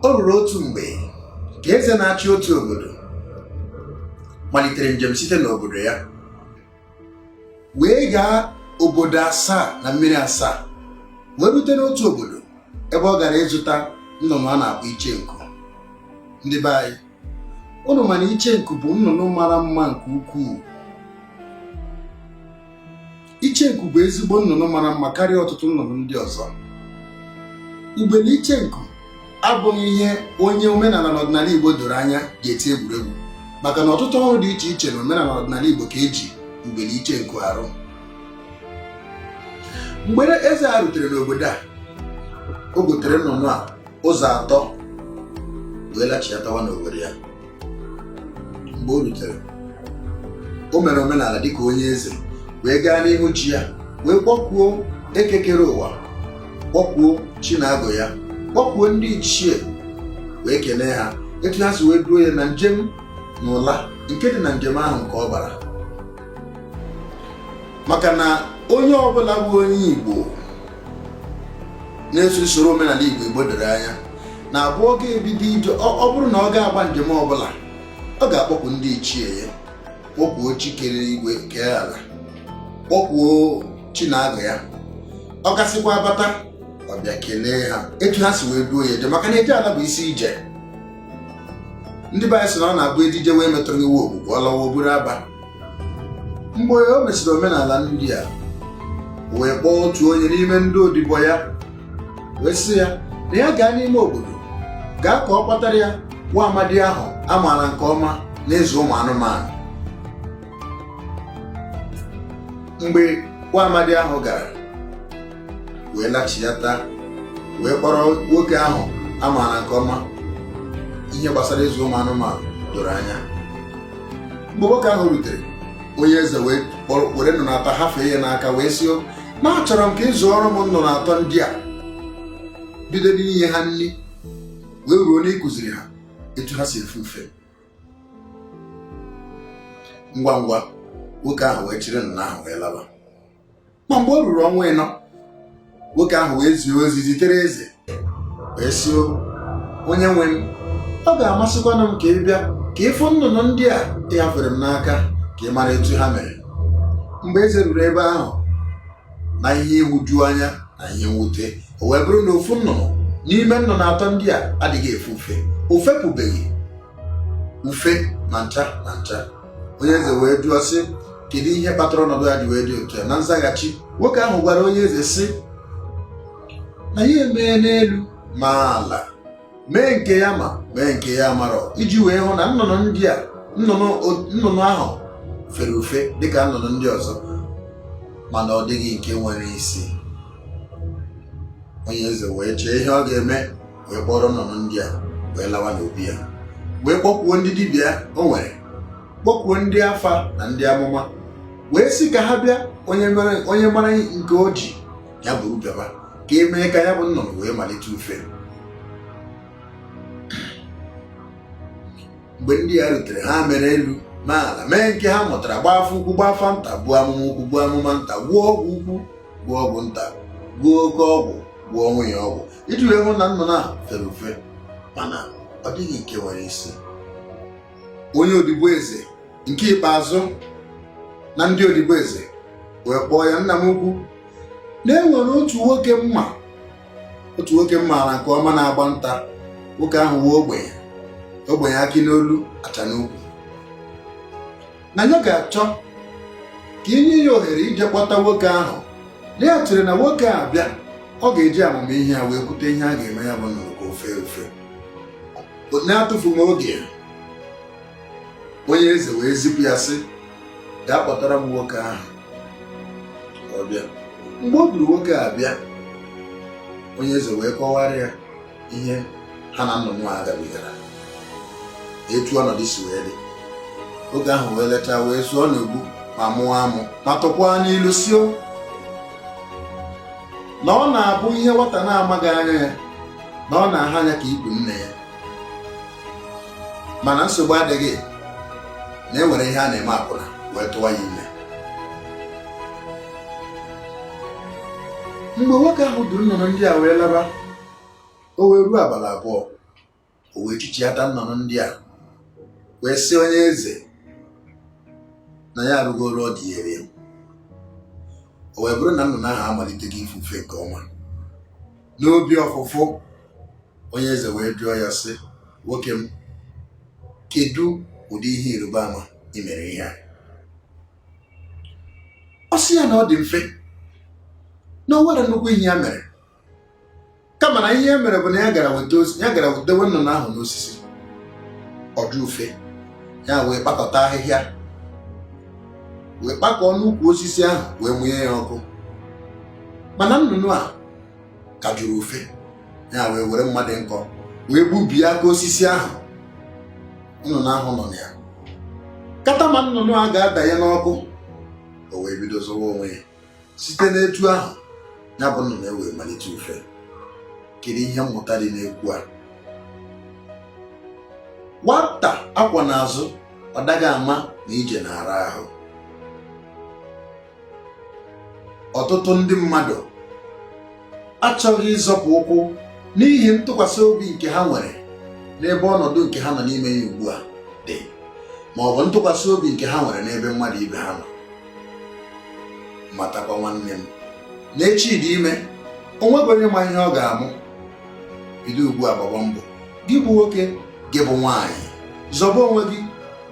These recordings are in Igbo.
o ruru otu mgbe ka eze na-achị otu obodo malitere njem site n'obodo ya wee gaa obodo asaa na mmiri asaa wee rute n'otu obodo ebe ọ gara ịzụta nnụnụ a na-akpọ iche nku ndị be anyị unu ma na iche nku bụ nnụnụ mara mma nke ukwuu iche nku bụ ezigbo nnụnụ mara mma karịa ọtụtụ nnụnụ ndị ọzọ ugbene iche nku abụghị ihe onye omenala na ọdịnala igbo doro anya ga-eti egwuregwu maka na ọtụtụ ọrụ dị iche iche na omenala ọdịnala igbo ka eji ugbene iche nku arụ mgbe eze a rutere n'obodo a o gotere nnụnụ a ụzọ atọ wee lachiatawa n'owere ya mgbe o rutere o mere omenala dịka onye eze wee gaa n'ihu chi ya wee kpọkuo eke kere ụwa kpọkuo chi na agwụ ya kpọkuo ndị ichie wee kelee ha etu ha si wee duo ya na njem na ụla nke dị na njem ahụ nke ọ gbara maka na onye ọbụla bụ onye Igbo na-eso usoro omenala Igbo Igbo doro anya na-abụ ọ ga-ebido ije ọ bụrụ na ọ ga-agba njem ọbụla ọ ga-akpọku ndị ichie ya kpọkuo chi kere igwe kee ala kpọkuo chi na agwụ ya ọ gasịkwaa bata ọ bịa kelee ha etu ha si wee duo ya ije maka na eje ala bụ isi ije ndị be anyị sị na ọ na-abụ edije wee metụrụ iwu ogbugbu ọ lawa oburu aba mgbe o mesịrị omenala ndị a wee kpọọ otu onye n'ime ndị odibo ya wee sị ya na ya gaa n'ime obodo gaa ka ọ kpọtara ya nwa amadi ahụ a maara nke ọma n'ịzụ ụmụ anụmanụ mgbe nwa amadi ahụ gara wee lachiata wee kpọrọ nwoke ahụ a maara nke ọma ihe gbasara ịzụ ụmụ anụmanụ doro anya mgbe nwoke ahụ rutere onye eze wee were nnụnụ atọ hafee ya n'aka wee sị na achọrọ m ka ị zụọrọ m nnụnụ atọ ndị a bido n'inye ha nri wee ruo n'ịkụziri ha etu ha si efe ufe ngwa ngwa nwoke ahụ wee chịrị nnụnụ ahụ wee laba ma mgbe o ruru ọnwa anọ nwoke ahụ wee zie ozi zitere eze wee sị onye nwe m ọ ga-amasịkwanụ m ka ị bịa ka ị fụ nnụnụ ndị a ị hafere m n'aka ka ị mara etu ha mere mgbe eze ruru ebe ahụ na ihe ịhụju anya na ihe mwute o wee bụrụ na ofu nnụnụ n'ime nnụnụ atọ ndị a adịghị efe ufe o fepụbeghị ufe na ncha na ncha onye eze wee jụọ sị kedu ihe kpatara ọnọdụ ya ji wee dị otu a na nzaghachi nwoke ahụ gwara onye eze sị na ya emee n'elu ma ala mee nke ya ma mee nke ya marọ iji wee hụ na nnụnụ ndị a nnụnụ ahụ fere ufe dịka nnụnụ ndị ọzọ mana ọ dịghị nke nwere isi onye eze wee chee ihe ọ ga-eme wee kpọrọ nnụnụ ndị a wee lawa n'obi ya wee kpọkwuo ndị dibịa o nwere kpọkwuo ndị afa na ndị amụma wee sị ka ha bịa onye mara nke o ji ya buru bịaba ka e mee ka ya bụ nnụnụ wee malite ufe mgbe ndị a rutere ha mere elu na ala mee nke ha mụtara gbaa afa ukwu gbaa afa nta gbuo amụma ukwu gbuo amụma nta gwọọ ọgwụ ukwu gwọọ ọgwụ nta gwọọ oke ọgwụ gwọọ nwunye ọgwụ iji wee hụ na nnụnụ a fere ufe mana ọ dịghị nke nwere isi onye odibo eze nke ikpeazụ na ndị odibo eze wee kpọọ ya nna m ukwu na e nwere otu nwoke m ma otu nwoke m maara nke ọma na-agba nta nwoke ahụ bụ ogbenye ogbenye akị n'olu acha n'ukwu na ya ga-achọ ka ị nye ya ohere ije kpọta nwoke ahụ na ya chere na nwoke a bịa ọ ga-eji amamihe ya wee kwute ihe a ga-eme ya bụ nnụnụ ka o fee ufe n'atụfughị oge onye eze wee zipụ ya sị gaa kpọtara m nwoke ahụ ọ bịa mgbe o duru nwoke a bịa onye eze wee kọwara ya ihe ha na nnụnụ a gabigara etu ọnọdụ si wee dị nwoke ahụ wee lechaa wee zụọ n'ogbu ma mụọ amụ ma tụkwa n'ilu sị o na ọ na-abụ ihe nwata na-amaghị aha ya na ọ na-aha anya ka ikpu nne ya mana nsogbu adịghị na e nwere ihe a na-eme akwụna wee tụwa ya ime mgbe nwoke ahụ duru nnụnụ ndị a wee laba o wee ruo abalị abụọ o wee chịchighata nnụnụ ndị a wee sị onye eze na ya arụgo ọrụ o dunyere ya o wee bụrụ na nnụnụ ahụ amalitego ife ufe nke ọma n'obi ọfụfụ onye eze wee jụọ ya sị nwoke m kedu ụdị ihe ịrịba ama ị mere ihe a ọ sị ya na ọ dị mfe na o nwerọ nnukwu ihe ya mere kama na ihe e mere bụ na ya gara wetewe nnụnụ ahụ n'osisi ọ jụ ufe ya wee kpakọta ahịhịa wee kpakọọ n'ukwu osisi ahụ wee mụnye ya ọkụ mana nnụnụ a ka jụrụ ufe ya wee were mma dị nkọ wee gbubie aka osisi ahụ nnụnụ ahụ nọ na ya kata ma nnụnụ a ga-adanye n'ọkụ o wee bido zọwa onwe ya site n'etu ahụ ya bụ nnụnụ ewee malite ufe kedu ihe mmụta dị n'ekwu a nwata a kwọ n'azụ ọ daghị ama na ije na-ara ahụ ọtụtụ ndị mmadụ achọghị ịzọpụ ụkwụ n'ihi ntụkwasị obi nke ha nwere n'ebe ọnọdụ nke ha nọ n'ime ya ugbu a dị ma ọ bụ ntụkwasị obi nke ha nwere n'ebe mmadụ ibe ha nọ matakwa nwanne m na echi dị ime o nweghị onye ma ihe ọ ga-amụ bido ugbu a gbaba mbọ gị bụ nwoke gị bụ nwaanyị zọba onwe gị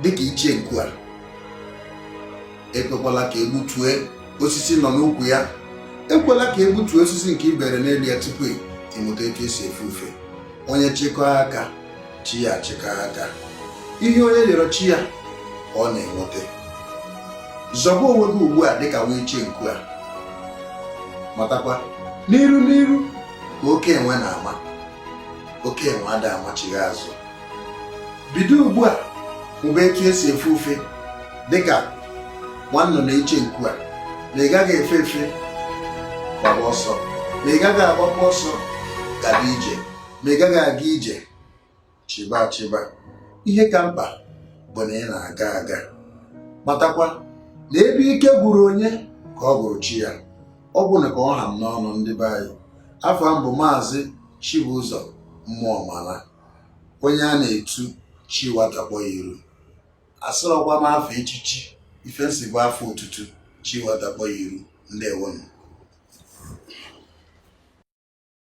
dịka iche nku a ekwekwala ka e gbutue osisi ị nọ n'ukwu ya ekwela ka e gbutue osisi nke i bere n'elu ya tupu ị mụta etu e si efe ufe onye chịkọọ aka chi ya chịkọọ aka ihe onye rịọrọ chi ya ka ọ na-enweta zọba onwe gị ugbu a dịka nwa iche nku a matakwa n'iru n'iru ka oke enwe na-ama oke enwe ada amachigha azụ bido ugbu a mụba etu e si efe ufe dịka nwa nnụnụ iche nku a ma ị gaghị efe efe gbaba ọsọ ma ị gaghị agbakwa ọsọ gaba ije ma ị gaghị aga ije chịba achịba ihe ka mkpa bụ na ị na-aga aga matakwa na ebe ike gwụrụ onye ka ọ gwụrụ chi ya ọ bụ na ka ọ ha m n'ọnụ ndị be anyị afa m bụ maazị Chibụzọ Mmụọmala onye a na-etu chi nwata kpọ ya iru asịrọkwa m afa echichi ife m sị bụ afa otutu chi nwata kpọ ya iru ndewonụ